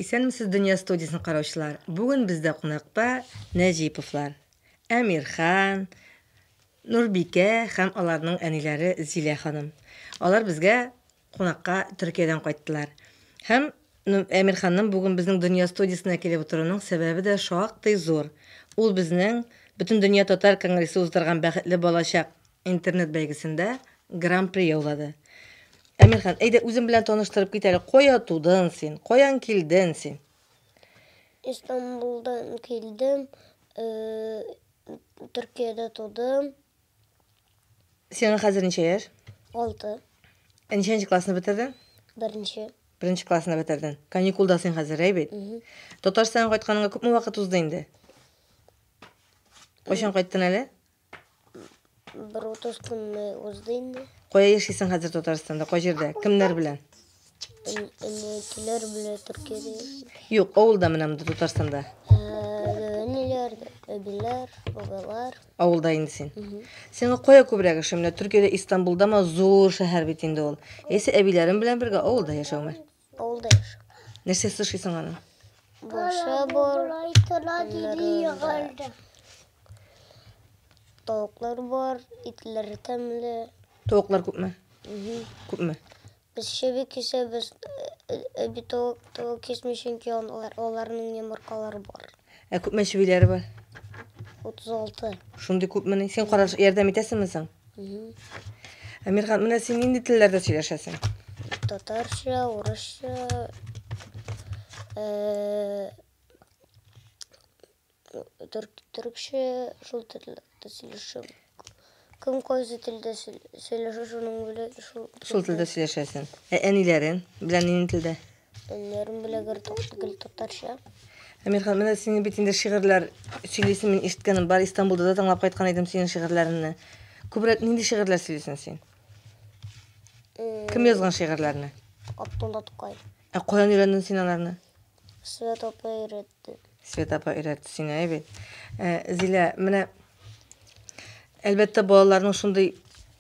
Исәнмесез дөнья студиясен караучылар. Бүген бездә кунакта Нәҗиповлар. Әмирхан, Нурбикә һәм аларның әниләре Зилә ханым. Алар безгә кунакка Төркиядән кайттылар. Һәм Әмирханның бүген безнең Дөнья студиясенә килеп утыруның сәбәбе дә шактый зур, ул безнең Бөтендөнья татар конгрессы уздырган Бәхетле балачак интернет-бәйгесендә Гран-при яулады. Әмирхан, әйдә, үзең белән таныштырып кит әле, кая тудың син, каян килден син? Истанбулдан килдем, Төркиядә тудым. Сиңа хәзер ничә яшь? Алты. Ә ничәнче классны бетердең? Беренче. Беренче классны бетердең. Каникулда син хәзер, әй бит? Татарстанга кайтканыңа күпме вакыт узды инде? Кайчан кайттын әле? Бер утыз көнне узды инде. Кая яшисең хәзер Татарстанда? Кай җирдә? Кемнәр белән? Әнәкеләр белән Төркиядә яши. Юк, авылда менә монда Татарстанда. Әниләр, әбиләр, бабалар. Авылда инде син. Сиңа кая күбрәк ошый? Менә Төркиядә Истанбулдамы зур шәһәр бит инде ул. Яисә әбиләрем белән бергә авылда яшәүме? Авылда яшәү. Нәрсә сушисың аны? Башы бар. Тавыклар бар, итләр тәмле. Тавыклар күпме? Күпме? Без чеби кисәбез, бит ул кисми, чөнки аларның йомыркалары бар. Ә күпме чебиләре бар? 36. Шундый күпмени? Син караш ярдәм итәсеңме соң? Әмирхан, менә син нинди телләрдә сөйләшәсең? Татарча, урысча, Төркчә шул телдә сөйләшәм. Кем кайсы телдә сөйләшә, шуның белән шул. Шул телдә сөйләшәсең. Ә әниләрең белән нинди телдә? Әниләрем белән гел гел татарча. Әмирхан, менә синең бит инде шигырьләр сөйлисең, мин ишеткәнем бар, Истанбулда да тыңлап кайткан идем синең шигырьләреңне. Күбрәк нинди шигырьләр сөйлисең син? Кем язган шигырьләрне? Абдулла Тукай. Ә каян өйрәндең син аларны? Свет апа өйрәтте. Свет апа өйрәтте сине, әйбе. Э, Зилә, менә әлбәттә балаларның шундый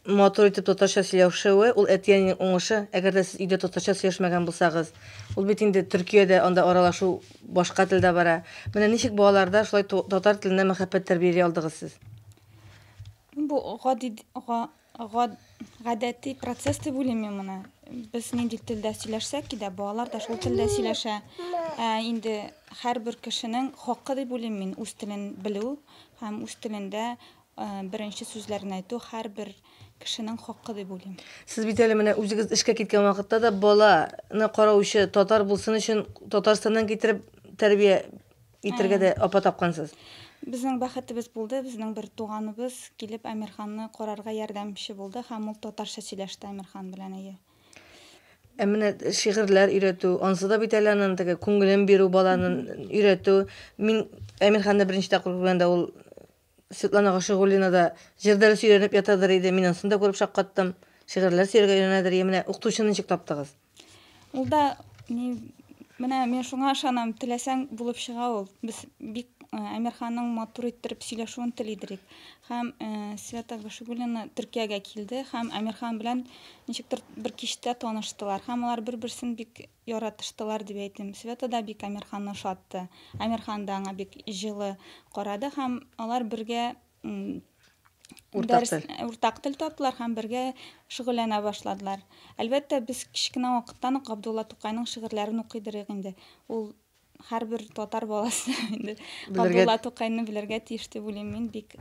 матур итеп татарча сөйләшүе, ул әти-әнинең уңышы. Әгәр дә сез өйдә татарча сөйләшмәгән булсагыз, ул бит инде Төркиядә анда аралашу башка телдә бара. Менә ничек балаларда шулай татар теленә мәхәббәт тәрбияли алдыгыз сез? Бу гади гадәти процесс дип уйлыйм мин моны. Без нинди телдә сөйләшсәк дә, балалар да шул телдә сөйләшә. Ә инде һәрбер кешенең хакы дип уйлыйм мин үз телен белү һәм үз телендә беренче сүзләрен әйтү һәрбер кешенең хакы дип уйлыйм. Сез бит әле менә үзегез эшкә киткән вакытта да баланы караучы татар булсын өчен Татарстаннан китереп тәрбия Итергә дә апа тапкансыз. Безнең бәхетебез булды, безнең бер туганыбыз килеп Әмирханны карарга ярдәмче булды һәм ул татарча сөйләште Әмирхан белән әйе. Ә менә шигырьләр өйрәтү, ансы да бит әле анын теге күңелен бирү баланын өйрәтү. Мин Әмирханны беренче тапкыр күргәндә ул Светлана Гашигуллина да җыр дәресе өйрәнеп ятадыр иде, мин ансын да күреп шаккаттым. Шигырьләр сөяргә өйрәнәдер, йә менә укытучыны ничек таптыгыз? Ул да ни, менә мин шуңа ышанам, теләсәң булып чыга ул. Без бик Әмирханның матур иттереп сөйләшүен телидер идек. Һәм Света Гашигуллина Төркиягә килде һәм Әмирхан белән ничектер бер кичтә таныштылар. Һәм алар бер-берсен бик яратыштылар дип әйтим. Света да бик Әмирханны ошатты. Әмирхан да аңа бик җылы карады һәм алар бергә уртак тел, уртак тел таптылар һәм бергә шөгыльләнә башладылар. Әлбәттә, без кечкенә вакыттан ук Габдулла Тукайның шигырьләрен укыйдырыйк инде. Ул һәрбер татар баласы инде Габдулла Тукайны белергә тиеш дип уйлыйм мин бик.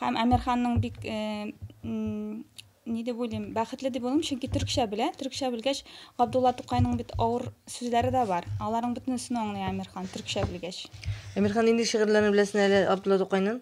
Һәм Әмирханның бик э, ни дип уйлыйм, бәхетле дип уйлыйм, чөнки төркчә белә. Төркчә белгәч, Габдулла Тукайның бит авыр сүзләре дә бар. Аларның бөтенесен аңлый Әмирхан төркчә белгәч. Әмирхан нинди шигырьләрен беләсен әле Габдулла Тукайның?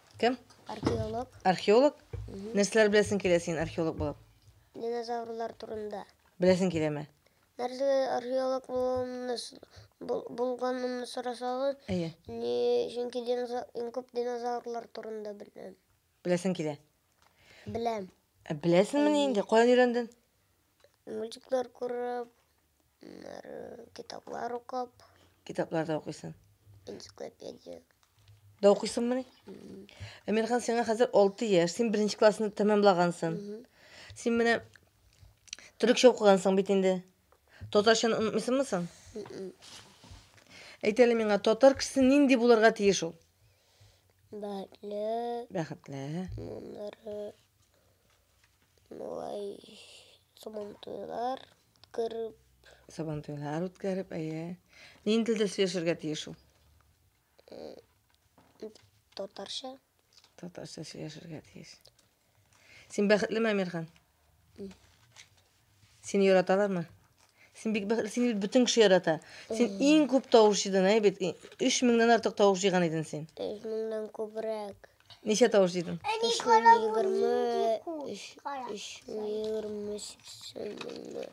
Кем? Археолог. Археолог? Нәрсәләр беләсең килә син археолог булып? Динозаврлар турында. Беләсең киләме? Нәрсәгә археолог булуымны с- бул- булганымны сорасагыз, Әйе. ни чөнки диноза- иң күп динозаврлар турында беләм. Беләсең килә. Беләм. Ә беләсеңмени инде? Каян өйрәндең? Мультиклар күреп, аннары китаплар укып, Китаплар да укыйсың. энциклопедия. Да укыйсыңмы ни? Әмирхан, сиңа хәзер 6 яшь, син беренче классны тәмамлагансың. Мгм. Син менә төрекчә укыгансың бит инде. Татарчаны онытмыйсыңмы соң? Мгм. Әйт әле миңа, татар кешесе нинди булырга тиеш ул? Бәхетле, Бәхетле, аннары Болай сабантуйлар үткәреп. Сабантуйлар үткәреп, әйе. Нинди телдә сөйләшергә тиеш ул? Татарча. Татарча сөйләшергә тиеш. Син бәхетлеме, Әмирхан? Сине яраталармы? Син бик бәхетле, син бит бөтен кеше ярата. Син иң күп тавыш җыйдың, әй бит. 3000-дән артык тавыш җыйган иден син. 3000-дән күбрәк. Ничә тавыш җыйдың? 320-328.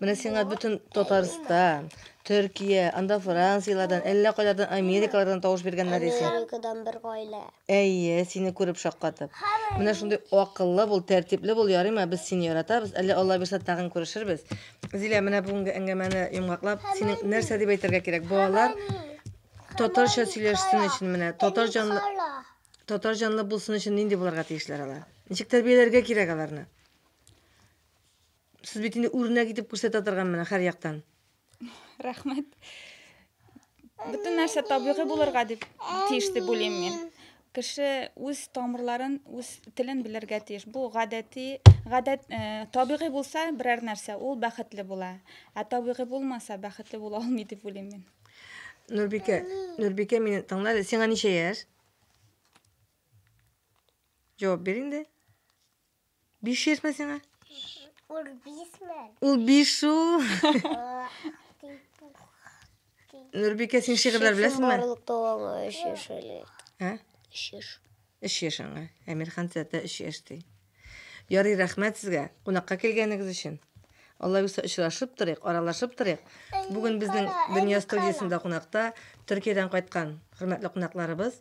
Менә сиңа бөтен Татарстан, Төркия, анда Францияләрдән, әллә кайлардан, Америкалардан тавыш биргәннәр исә. Америкадан бер гаилә. Әйе, сине күреп шаккатып. Менә шундый акыллы бул, тәртипле бул, ярыймы? Без сине яратабыз. Әле Алла бирсә тагын күрешербез. Зилә, менә бүгенге әңгәмәне йомгаклап, синең нәрсә дип әйтергә кирәк? Балалар татарча сөйләшсен өчен менә, татар җанлы татар җанлы булсын өчен нинди булырга тиешләр алар? Ничек тәрбияләргә кирәк аларны? Сез бит инде үрнәк итеп күрсәтә торган менә һәр яктан. рәхмәт бөтен нәрсә табигый булырга дип тиеш дип уйлыйм мин кеше үз тамырларын үз телен белергә тиеш бу гадәти гадәт ә, э, табигый булса берәр нәрсә ул бәхетле була ә табигый булмаса бәхетле була алмый дип уйлыйм мин нурбикә нурбикә мине тыңла сиңа ничә яшь җавап бир инде Биш йөзме сиңа? Ул бишме? Ул биш шул. Нурбикә, син шигырьләр беләсеңме? Барлык дәвамы өч яшь әле. Ә? Өч яшь. Өч яшь аңа. Әмирхан тәтә өч яшь ди. Ярый, рәхмәт сезгә. Кунакка килгәнегез өчен. Алла юса очрашып торыйк, аралашып торыйк. Бүген безнең дөнья студиясендә кунакта Төркиядән кайткан хөрмәтле кунакларыбыз.